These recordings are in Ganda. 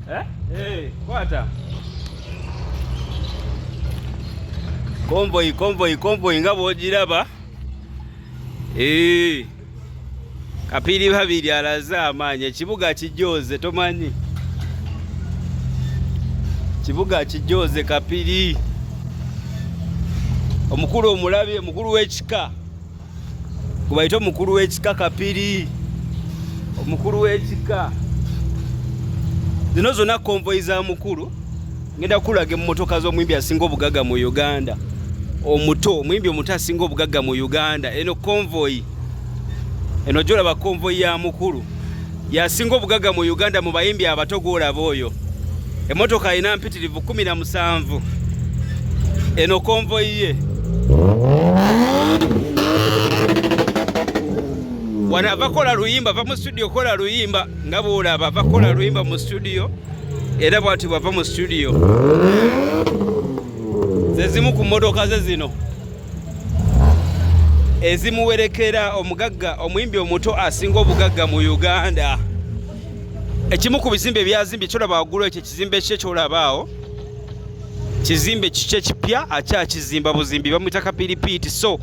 Eh? Hey, kwata. Konvoyi, konvoyi, konvoyi nga bwogiraba. Eh. Kapiri babiri alaze amaanyi ekibuga kijooze tomanyi. Kibuga kijooze kapiri. Omukulu omulabye, omukulu w'ekika. gubayite omukulu w'ekika kapiri omukulu w'ekika zino zonna konvoyi za mukulu ngenda kukulaga emmotoka z'omuyimbi asinga obugagga mu uganda omuto omuyimbi omuto asinga obugagga mu uganda eno konvoyi eno gyolaba konvoyi ya mukulu yasinga obugaga mu uganda mu bayimbi abato gwolaba oyo emotoka alina mpitirivu 17 eno konvoyi ye wano avakola luyimba va mu studio kola luyimba nga bwolaba avakola luyimba mu studio era bwati bwava mu studio zezimu ku motoka ze zino ezimuwerekera omugagga omuyimbi omuto asinga obugagga mu uganda ekimu ku bizimbe ebyazimbye kyolaba waggulu ekyo ekizimbe kye kyolabaawo kizimbe kikye kipya akyakizimba buzimbi bamwita kapiripiiti so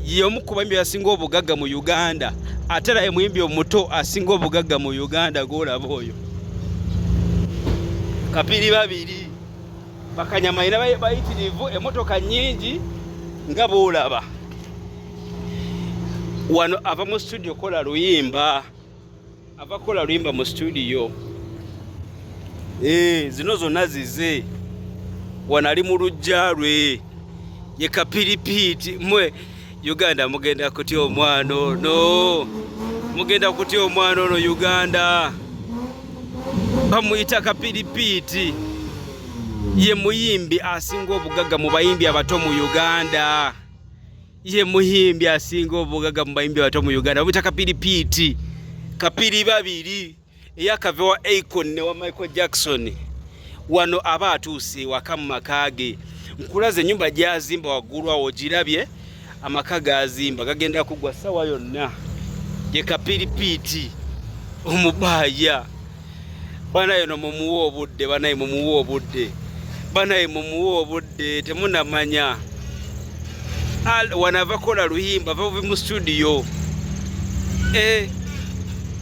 yomu ku bayimbi asinga obugagga mu uganda ate era emuyimbi omuto asinga obugagga mu uganda gwolaba oyo kapiri babiri bakanyama era bayitirivu emotoka nyingi nga bwolaba wano ava mu studio kola luyimba ava kola luyimba mu studio eh, zino zonna zize wano ali mu lujja lwe ye kapiripiiti mwe Uganda mugenda kutya omwana ono, mugenda kutya omwana ono Uganda. Bamuyita kapiripiiti, ye muyimbi asinga obugagga mu bayimbi abato mu Uganda. Ye muyimbi asinga obugagga mu bayimbi abato mu Uganda, bamuyita kapiripiiti, kapiri babiri. eyakave wa Akon ne wa Michael Jackson wano aba atuuse ewaka mu maka ge nkulaze ennyumba gyazimba waggulu awo girabye amaka gazimba gagenda kugwa sawa yonna ye kapiripiiti omubaaya banaye no mumuwa obudde banaye mumuwa obudde banaye mumuwa obudde temunamanya Al wanava kola luhimba vavi mu studio eh,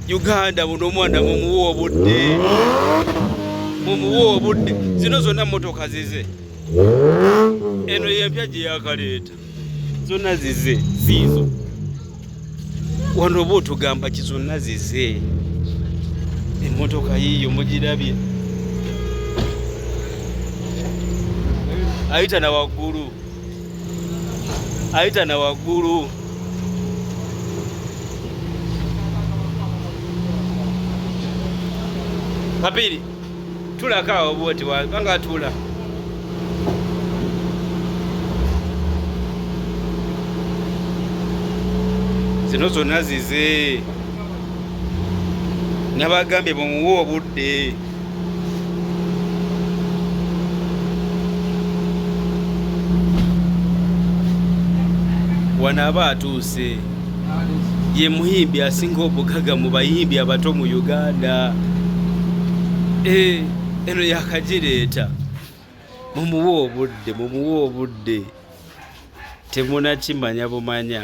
Uganda buno omwana mumuwa obudde mumuwa obudde zino zonna motoka zize eno yempya gye yakaleeta zonna zize ziizo wano oba otugamba kizonna zize emotoka yiyo mugirabye ayita na waggulu ayita na waggulu papiri tulako awo bwoti wabanga atula zino zonna zize nabagambye bumuwe obudde wano aba atuuse ye muyimbi asinga obugaga mu bayimbi abato mu uganda eh, eno yakagireeta mumuwe obudde mumuwe obudde temunakimanya bumanya